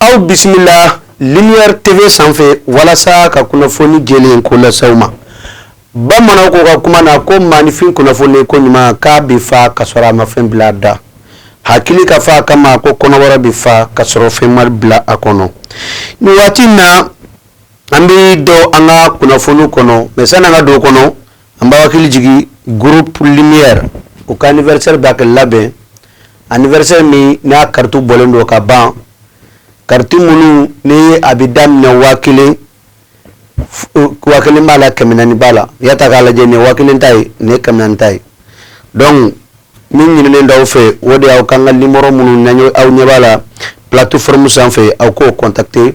Aw bisimila Lumière TV sanfɛ walasa ka kunnafoni jɛlen ko lase aw ma bamanan ko ka kuma na ko maaninfin kunnafoni ko ɲuman k'a bɛ fa ka sɔrɔ a ma fɛn bila a da hakili ka fa a kama ko kɔnɔbara bɛ fa ka sɔrɔ fɛn ma bila a kɔnɔ nin waati na an bɛ don an ka kunnafoni kɔnɔ mais sani an ka don o kɔnɔ An b'aw hakili jigin groupe lumière u ka anniversaire bɛ ka labɛn anniversaire min n'a carte bɔlen don ka ban carte minnu ni a bɛ daminɛ 1000 b'a la 400 b'a la i y'a ta k'a lajɛ nin ye 1000 ta ye nin ye 400 ta ye donc min ɲininen don aw fɛ o de ye aw k'an ka numéro minnu n'aw ɲɛ b'a la plateforme sanfɛ aw k'o contacter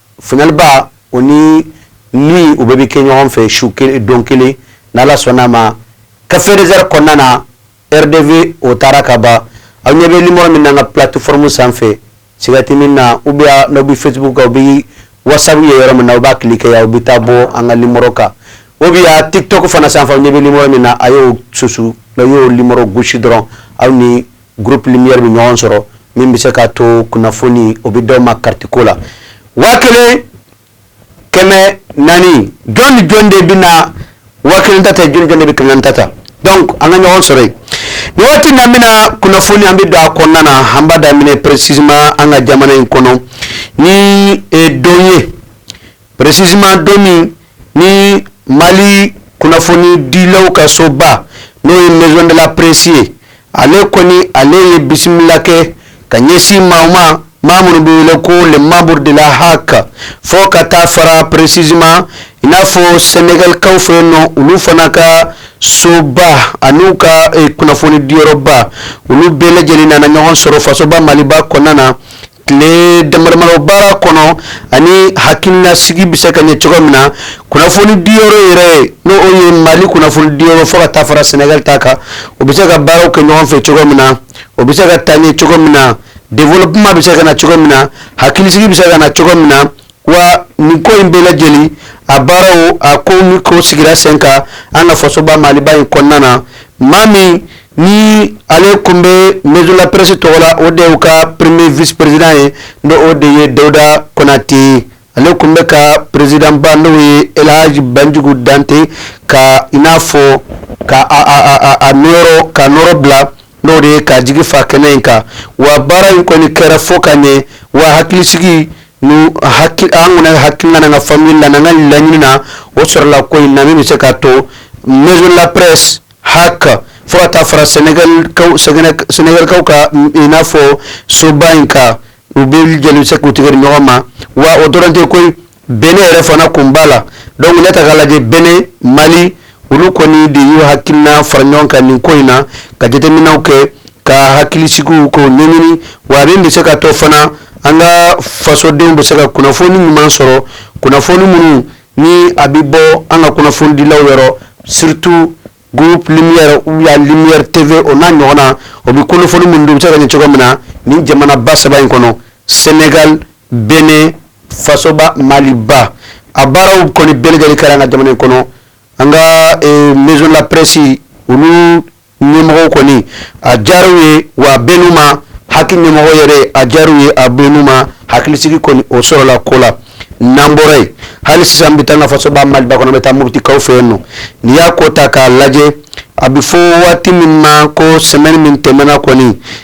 Fba o ni min u bɛɛ bɛ kɛ ɲɔgɔn fɛ su dɔn kelen n ala sɔnna a ma ka feereereɛrɛ kɔnɔna na rdp o taara ka ban aw ɲɛ bɛ ɲuman min na ka pti fmu sanfɛ sigati min na u bɛ n bɛ fɛtigiw kan bi waasa ye yɔrɔ min na u b'a tile kɛ yan u bɛ taa bɔ an ka lim kan o bɛ ti to fana sanfɛ ɲɛ bɛ min na a y'o susu n y'o lim gosi dɔrɔn aw ni groupe Lumière bɛ ɲɔgɔn sɔrɔ min bɛ se k'a to kunnafoni o bɛ d'aw ma carte ko la waa kelen kɛmɛ naani jɔn ni jɔn de bɛ na waa kelen ta ta jɔn de bɛ kɛmɛ naani ta ta an ka ɲɔgɔn sɔrɔ yen nin waati na bɛna kunnafoni an bɛ don a kɔnɔna na an b'a daminɛ précisément an ka jamana in kɔnɔ ni don ye Précisément don min ni mali kunnafoni dilaw ka soba n'o ye maison de la presse ye ale kɔni ale ye bisimila kɛ ka ɲɛsin maaw ma maa minnu bɛ wele ko les membres de la HAC fo ka taa fara précisément i n'a fɔ sɛnɛgalikaw fɛ yen nɔ olu fana ka soba ani u ka kunnafoni diyɔrɔba olu bɛɛ lajɛlen nana ɲɔgɔn sɔrɔ fasoba maliba kɔnɔna na tile damadama baara kɔnɔ ani hakilinasigi bɛ se ka ɲɛ cogo min na kunnafoni diyɔrɔ yɛrɛ n'o ye mali kunnafoni diyɔrɔ fo ka taa fara Sénégal ta kan o bɛ se ka baaraw kɛ ɲɔgɔn fɛ cogo min na o bɛ se ka taa ɲɛ cogo min na développement bɛ se ka na cogo min na hakilisigi bɛ se ka na cogo min na wa nin ko in bɛɛ lajɛlen a baaraw a ko ni ko sigira sen kan an ka fasoba maliba in kɔnɔna na maa min ni ale tun bɛ maison de la presse tɔgɔ la o de y'u ka premier vice président ye n'o de ye dawuda konate ale tun bɛ u ka président ba n'o ye elhaji banjugu dante ka i n'a fɔ ka a nɔrɔ ka nɔrɔ bila n'o de ye ka jigi fa kɛnɛ in kan wa baara in kɔni kɛra fo ka ɲɛ wa hakilisigi ni hakili an kɔni hakilina n'an ka faamuyali la n'an ka laɲini na o sɔrɔla ko in na min bɛ se k'a to maison de la presse HAC fo ka taa fara sɛnɛgalikaw ka i n'a fɔ soba in kan u bɛɛ jɛlen bɛ se k'u tigɛ di ɲɔgɔn ma wa o dɔrɔn tɛ koyi Benin yɛrɛ fana kun b'a la donc ne ta k'a lajɛ Benin Mali olu kɔni de y'u hakilina fara ɲɔgɔn kan nin ko in na ka jateminɛw kɛ ka hakilisigiw ko ɲɛɲini wa min bɛ se k'a to fana an ka fasodenw bɛ se ka kunnafoni ɲuman sɔrɔ kunnafoni minnu ni a bɛ bɔ an ka kunnafonidilaw yɔrɔ surtout groupe Lumière ou bien Lumière TV o n'a ɲɔgɔnna o bɛ kunnafoni minnu bɛ se ka ɲini cogo min na ni jamanaba saba in kɔnɔ sɛnɛgali Benin fasoba maliba a baaraw kɔni bɛɛ lajɛlen kɛra an ka jamana in kɔnɔ an ka eh, maison de la presse olu ɲɛmɔgɔw kɔni a diyar'u ye wa a bɛnn'u ma HAC ɲɛmɔgɔ yɛrɛ a diyar'u ye a bɛnn'u ma hakilisigi kɔni o sɔrɔla ko la n'an bɔra yen hali sisan an bɛ taa an ka fasoba maliba kɔnɔ an bɛ taa mɔtikaw fɛ yen nɔ n'i y'a ko ta k'a lajɛ a bɛ fɔ waati min ma ko semaine min tɛmɛna kɔni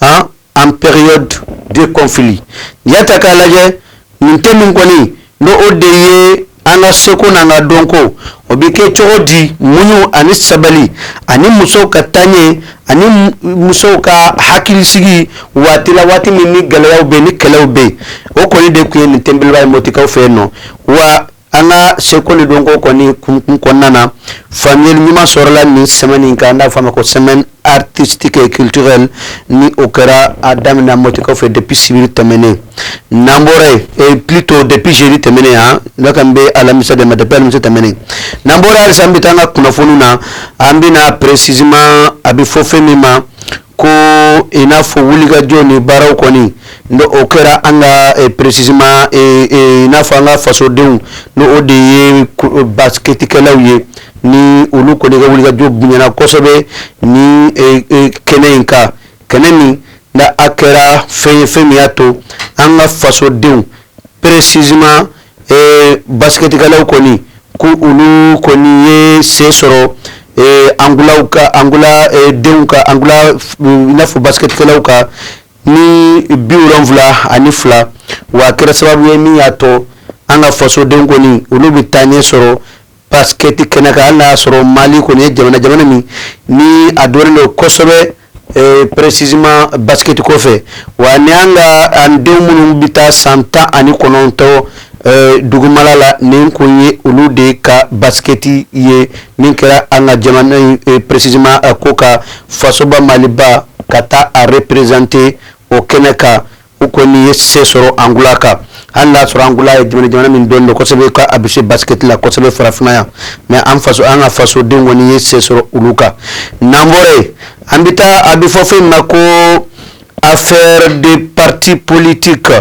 en période de conflit y'a ta k'a lajɛ nin thème in kɔni ni o de ye an ka seko n'an ka dɔnko o bɛ kɛ cogo di muɲu ani sabali ani musow ka taaɲɛ ani musow ka hakilisigi waati la waati min ni gɛlɛyaw bɛ ni kɛlɛw bɛ o kɔni de tun ye nin thème beleba ye mɔtikaw fɛ yen nɔ wa an ka seko ni dɔnko kɔni kunkun kɔnɔna na faamuyali ɲuman sɔrɔla nin semaine in kan n'a fɔ a ma ko semaine artistique et culturelle ni o kɛra a daminɛna mɔtikaw fɛ depuis sibiri tɛmɛnen n'an bɔra yen eh, plutôt depuis jeudi tɛmɛnen ne kan bɛ alamisa de ma depuis alamisa tɛmɛnen n'an bɔra halisa an bɛ taa an ka kunnafoniw na an bɛna précisément a bɛ fɔ fɛn min ma ko i n'a fɔ wulikajɔ ni baaraw kɔni n'o kɛra an ka eh, précisément eh, eh, i n'a fɔ an ka fasodenw n'o de ye basketikɛlaw ye ni olu kɔni ka wulikajɔ bonyana kosɛbɛ ni kɛnɛ in kan kɛnɛ min n'a kɛra fɛn ye fɛn min y'a to an ka fasodenw précisément ee basketikɛlaw kɔni ko olu kɔni ye se sɔrɔ Angola denw kan Angola i n'a fɔ basketikɛlaw kan ni biwolonwula ani fila wa kɛra sababu ye min y'a to an ka fasodenw kɔni olu bɛ taaɲɛ sɔrɔ basketi kɛnɛ kan hali n'a y'a sɔrɔ mali kɔni ye jamana jamana min ni a dɔnnen don kosɛbɛ eh, précisément basketi ko fɛ wa ni an ka an denw minnu bɛ taa san tan ani kɔnɔntɔn eh, dugumala la nin kun ye olu de ka basketi ye min kɛra an ka jamana in eh, précisément ko ka fasoba maliba ka taa a représenter o kɛnɛ kan u kɔni ye se sɔrɔ angola kan hali y'a sɔrɔ angola ye jamana jamana min dɔn don kosɛbɛ ka a bɛ se basket la kosɛbɛ farafinna yan mais an faso an ka fasoden kɔni ye se sɔrɔ olu kan n'an bɔra yen an bɛ taa a bɛ fɔ fɛn ma ko affaire des partis politiques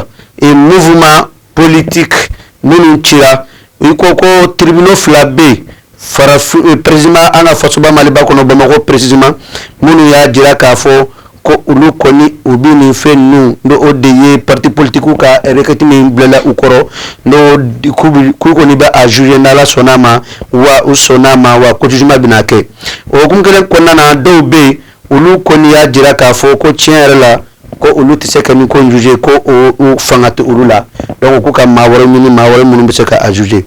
et mouvements politiques minnu cira i ko ko tribunaux fila bɛ yen farafin eh, précisément an ka fasoba maliba kɔnɔ bamakɔ précisément minnu y'a jira k'a fɔ ko olu kɔni u bɛ nin fɛn ninnu n'o o de ye parti politikiw ka requête min bilala u kɔrɔ n'o k'u bɛ k'u kɔni bɛ a juger n'Ala sɔnn'a ma wa u sɔnn'a ma wa ko jugement bɛna kɛ o hukumu kelen kɔnɔna na dɔw bɛ yen olu kɔni y'a jira k'a fɔ ko tiɲɛ yɛrɛ la ko olu tɛ se ka nin ko juger ko o fanga tɛ olu la donc ko ka maa wɛrɛ ɲini maa wɛrɛ minnu bɛ se ka a juger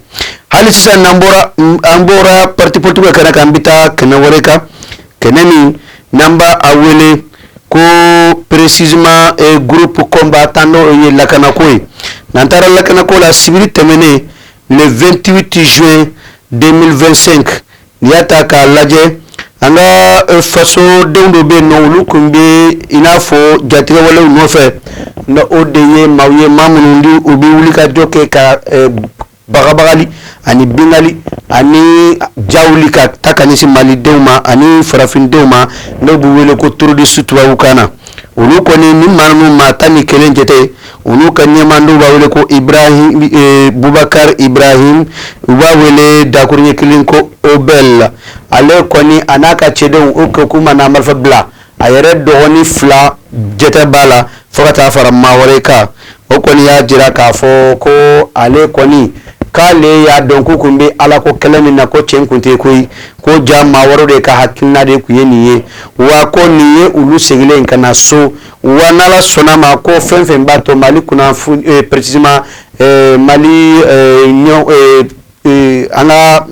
hali sisan n'an bɔra an bɔra parti politique kɛnɛ kan an bɛ taa kɛnɛ wɛrɛ kan kɛnɛ min n'an b'a wele ko précisément eh, groupe combattant n'o ye lakanako ye n'an taara lakanako la sibiri tɛmɛnen le 28 juin 2025 N'i y'a ta k'a lajɛ an ka fasodenw dɔw bɛ nɔ olu tun bɛ i n'a fɔ jatigɛwalew nɔfɛ n'o de ye maaw ye maa minnu n'u bɛ wuli ka jɔ kɛ ka bagabagali ani binkali ani jawuli ka ta ka ɲɛsin malidenw ma ani farafindenw ma n'u b'u wele ko terroristew kan na olu kɔni nin maa ninnu maa tan ni kelen jate olu ka ɲɛmaa n'u b'a wele ko e, bubakari ibrahim u b'a wele dakurunɲɛ kelen ko oubel ale kɔni a n'a ka cɛdenw o kɛ kuma n'a marifa bila a yɛrɛ dɔgɔnin fila jate b'a la fo ka taa fara maa wɛrɛ kan o kɔni y'a jira k'a fɔ ko ale kɔni k'ale y'a dɔn k'u tun bɛ ala ko kɛlɛ min na ko cɛn kun tɛ koyi ko jaa maa wɛrɛ de ka hakilina de tun ye nin ye wa ko nin ye olu segilen ka na so Wa n'Ala sɔnn'a ma ko fɛn fɛn b'a to mali kunna précisément mali an ka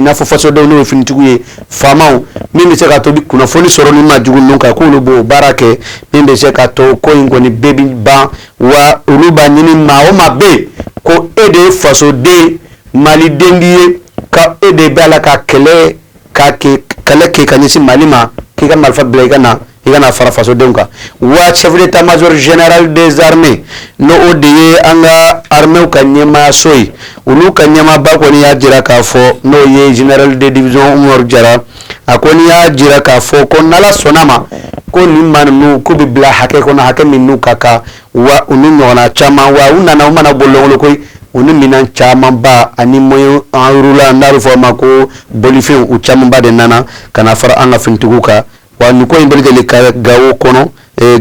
n'a fɔ fasodenw n'o finitigiw ye fama min bɛ se k'a to u bɛ kunnafoni sɔrɔ nin maa jugu ninnu kan k'olu b'o baara kɛ min bɛ se k'a to ko in kɔni bɛɛ bɛ ban wa olu b'a ɲini maa o maa bɛ yen ko e de ye fasoden mali den ye ka e de b'a la ka kɛlɛ ka kɛlɛ kɛ ka ɲɛsin mali ma k'i ka marifa bila i ka na i ka na fara fasodenw kan wa chef d'état-major général des armées n' o de ye an ka armée ka ɲɛmaaso ye olu ka ɲɛmaaba kɔni y'a jira k'a fɔ n'o ye général de division oumar diarra a kɔni y'a jira k'a fɔ ko n'Ala sɔnn'a ma ko nin maa ninnu ko bɛ bila hakɛ kɔnɔ hakɛ min ka kan wa u ni ɲɔgɔn caman wa u nana u ma na bololankolon koyi u ni minɛn camanba ani moyens roulants n'a bɛ fɔ a ma ko bolifɛn u camanba de nana ka fara an ka finitigiw kan wa nin ko in bɛɛ lajɛlen gawo kɔnɔ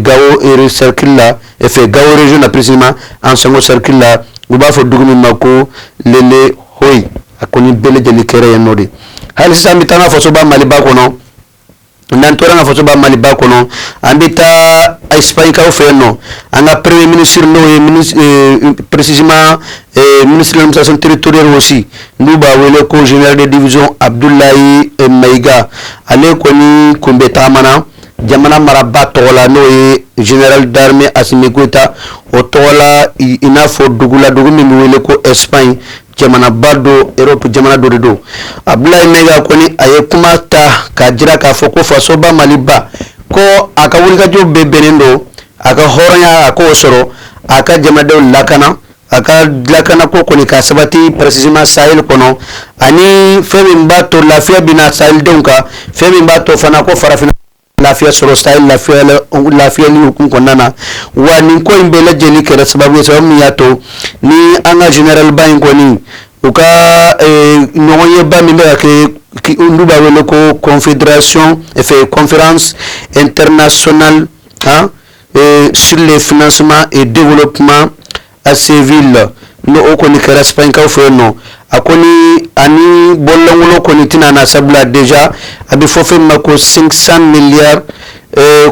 gawo serikili la en fait gawo région na précisément ansongo serikili la u b'a fɔ dugu min ma ko lelehoy a ko nin bɛɛ lajɛlen kɛra yen nɔ de hali sisan an bɛ taa an ka fasoba maliba kɔnɔ n'an tora an ka fasoba maliba kɔnɔ an bɛ taa espagnekaw fɛ yen nɔ an ka premier ministre n'o ye précisément Ee ministre de l'administration territoriale aussi n'u b'a wele ko général de division abudulayi mayiga ale kɔni kun bɛ taama na jamana maraba tɔgɔ la n'o ye général d'armée assimi goïta o tɔgɔ la i n'a fɔ dugu la dugu min bɛ wele ko espagne jamanaba don europe jamana dɔ de don abudulayi mayiga kɔni a ye kuma ta k'a jira k'a fɔ ko fasoba maliba ko a ka wulikajɔ bɛɛ bɛnnen don a ka hɔrɔnya a k'o sɔrɔ a ka jamadenw lakana a ka lakana ko kɔni ka sabati précisément sahel kɔnɔ ani fɛn min b'a to lafiya bɛna na sahel denw kan fɛn min b'a to fana ko farafinna lafiya sɔrɔ sahel lafiya lafiya nin hukumu kɔnɔna na wa nin ko in bɛɛ lajɛlen kɛra sababu sababu min y'a to ni an ka généralba in kɔni u ka eh, ɲɔgɔnyeba min bɛ ka kɛ olu b'a wele ko confédération fɛ conférence internationale kan ee sule fsman e deolo kuma a sen v la n o kɔni kɛrakaw fɛ yen nɔ a ko ni ani bɔlɔlankolon kɔni tɛna na sabula dez a bɛ fɔ fɛn ma ko sensan miliya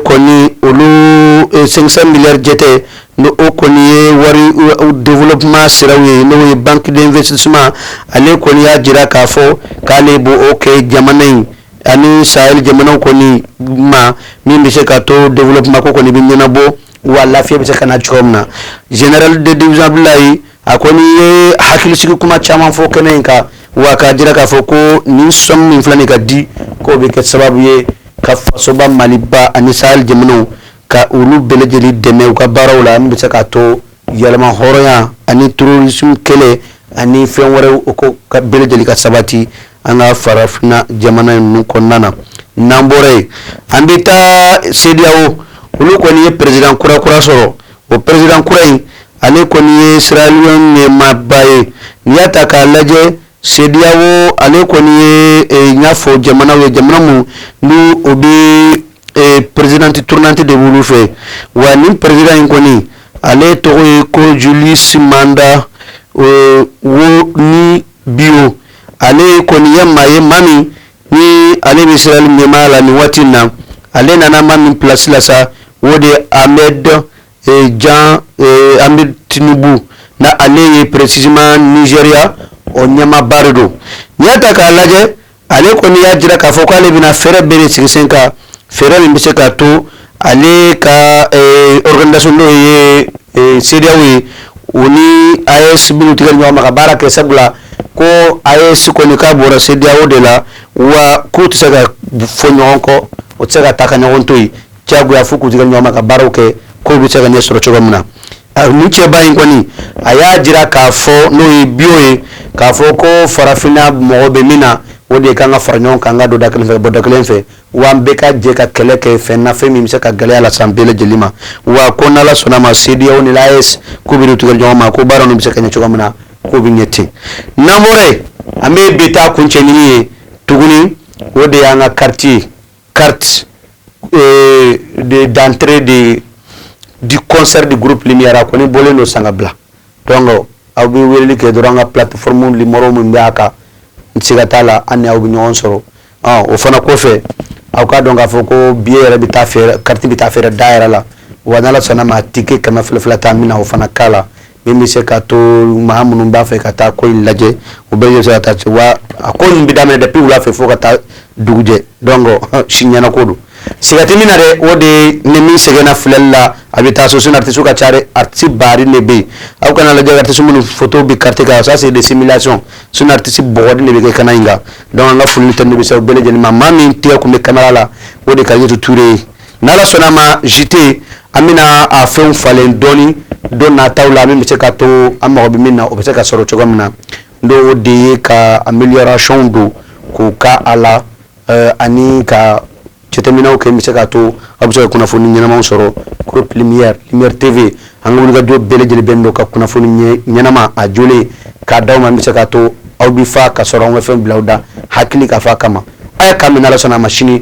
kɔni olu sensan miliya jate n o kɔni ye wari deolo kuma sira ye n'o ye bangekedenfɛsisuma ale kɔni y'a jira k'a fɔ k'ale bɔ o kɛ jamana in ani sahel jamanaw kɔni ma min bɛ se k'a to développement ko kɔni bɛ ɲɛnabɔ wa lafiya bɛ se ka na cogo min na général de division Abdulayi a kɔni ye hakilisigi kuma caman fɔ kɛnɛ in kan wa k'a jira k'a fɔ ko nin somme min filɛ nin ka di k'o bɛ kɛ sababu ye ka fasoba Maliba ani sahel jamanaw ka olu bɛɛ lajɛlen dɛmɛ u ka baaraw la min bɛ se k'a to yɛrɛmahɔrɔnya ani terrorisme kɛlɛ ani fɛn wɛrɛw ko k'a bɛɛ lajɛlen ka sabati an ka farafinna jamana ninnu kɔnɔna na n'an bɔra yen an bɛ taa CEDEAO olu kɔni ye perezidan kura kura sɔrɔ o perezidan kura in ale kɔni ye sierra leone ɲɛmaaba ye n'i y'a ta k'a lajɛ CEDEAO ale kɔni ye i n'a fɔ jamana ye jamana minnu n'u bɛ ee perezidanti tournante de b'olu fɛ wa nin perezidan in kɔni ale tɔgɔ ye ko julius maada ee, wonie bio ale kɔni ye maa ye maa min ni ale bɛ sierra leone ɲɛmaa la nin waati in na ale nana maa min pilasi la sa o de ye ahmed ee, jan ee, ahmed tinubu na ale ye précisément nizeriya o ɲɛmaaba de don n'i y'a ta k'a lajɛ ale kɔni y'a jira k'a fɔ k'ale bɛna fɛɛrɛ bɛɛ de sigi sen kan fɛɛrɛ min bɛ se k'a to ale ka eh, organisation n'o ye eh, CEDEAO ye o ni AES bɛn'u tɛgɛ di ɲɔgɔn ma ka baara kɛ sabula ko AES kɔni k'a bɔra CEDEAO de la wa k'u tɛ se ka fɔ ɲɔgɔn kɔ u tɛ se ka taa ka ɲɔgɔn to yen diyagoya fo k'u tɛgɛ di ɲɔgɔn ma ka baaraw kɛ k'o bɛ se ka ɲɛ sɔrɔ cogo min na Nin cɛba in kɔni a y'a jira k'a fɔ n'o ye bi ye k'a fɔ ko farafinna mago bɛ min na o de ye k'an ka fara ɲɔgɔn kan ka don da kelen fɛ bɔ da kelen fɛ wa an bɛɛ ka jɛ ka kɛlɛ kɛ fɛn na fɛn min bɛ se ka gɛlɛya lase an bɛɛ lajɛlen ma wa ko n'ala sɔnna a ma CEDEAO ni AES k'u bɛ tɛgɛ di ɲɔgɔn ma ko baara bɛ se ka ɲɛ cogo min na k'o bɛ ɲɛ ten n'mo an bɛ bi ta kuncɛ nin ye tuguni o de y'an ka carte ye carte euh, d'entrée de, du concert du groupe Lumière a kɔni bɔlen don san ka bila donc aw bɛ weleli kɛ dɔrɔn an ka plateforme nimoro min bɛ a kan n siga t'a la an ni aw bɛ ɲɔgɔn sɔrɔ o fana kɔfɛ aw k'a dɔn k'a fɔ ko billet yɛrɛ bɛ taa feere carte bɛ taa feere da yɛrɛ la wa n'ala sɔnna a ma tike kɛmɛ fila fila ta min na o fana k'a la min bɛ se k'a to maa minnu b'a fɛ ka taa ko in lajɛ u bɛ yo ka taa se wa a ko in bɛ daminɛ depuis wula fɛ fo ka taa dugujɛ donc o si ɲɛnako don siga tɛ min na dɛ o de ni min sɛgɛnna filɛli la a bɛ taa so sinon artistes ka ca artistes baw de bɛ yen aw kana a lajɛ artistes minnu fɔtow bɛ carte kan ça c'est des simulations sinon artistes baw de bɛ kɛnɛ in kan donc an ka foli ni tanuni bɛ se u bɛɛ lajɛlen ma maa min tɛgɛ tun bɛ caméra la o de Kadiatou Touré ye Ni Ala sɔnna a ma JT an bɛna a fɛnw falen dɔɔnin don nataw la min bɛ se k'a to an mago bɛ min na o bɛ se ka sɔrɔ cogoya min na n'o de ye ka amélioration dɔw kɛ a la ani ka jateminɛw kɛ min bɛ se k'a to aw bɛ se ka kunnafoni ɲɛnamaw sɔrɔ groupe lumière, lumière TV an ka wulikajɔ bɛɛ lajɛlen bɛnnen don ka kunnafoni ɲɛnama a jolen k'a d'aw ma min bɛ se k'a to aw bɛ fa ka sɔrɔ aw ma fɛn bila aw da hakili ka fa kama ayiwa k'an bɛn ni Ala sɔnna a ma sini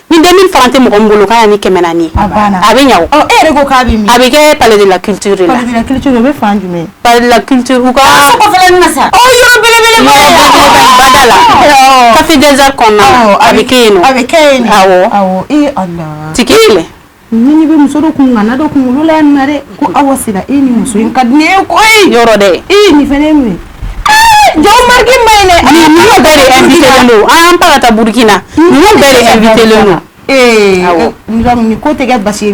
Ni den fana tɛ mɔgɔ bolo k'a ni kɛmɛ naani a bɛ ɲa a bɛ kɛ pala kite la ki ki la ki sa kafejɛ kɔnɔ a bɛ a bɛ tigi Ni bɛ muso dɔ kun nana dɔ kunkolo la nare ko aw sigira e ni muso in ka di n ye ko e yɔrɔ dɛ e ye nin fana minɛ jɔn ma de an taara taa burukina bɛɛ ko tɛ basi ye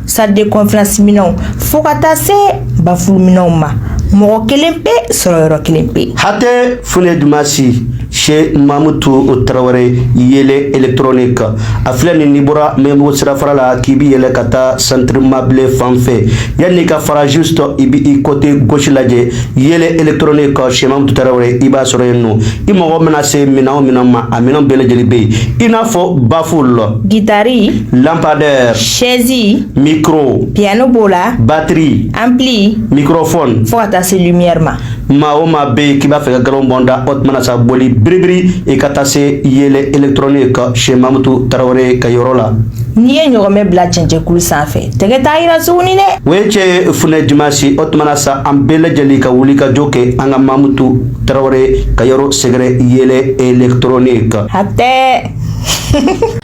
salle de conférence minɛnw fo ka taa se bafulu minɛnw ma mɔgɔ kelen pe sɔrɔ yɔrɔ kelen pe hatɛ funɛ dumasi chez mamutu tarawele yele électronique a filɛ nin n'i bɔra mɛmugu sirafara la k'i bi yɛlɛ ka taa centre mable fan fɛ yanni ka fara juste i bi i côté gauche lajɛ yele électronique chez mamutu tarawele i b'a sɔrɔ yen nɔ i mago mana se minɛn o minɛn ma a minɛn bɛɛ lajɛlen bɛ yen i n'a fɔ baful gitari lampadaire sɛzi mikro piano b'o la batiri ampli mikrofone fo ka taa se lumière ma maa o maa be k'i b'a fɛ ka galon bɔn da o tuma na sa boli biribiri i ka taa se yele électronique chez mamutu tarawele ka yɔrɔ la n'i ye ɲɔgɔmɛ bila cɛncɛnkulu san fɛ tɛgɛ t'a yira suguni dɛ o ye cɛ funɛ dimasi o tuma na sa an bɛɛ lajɛlen ka wulikajɔ kɛ an ka mamutu tarawele ka yɔrɔ sɛgɛrɛ yele électronique hatɛ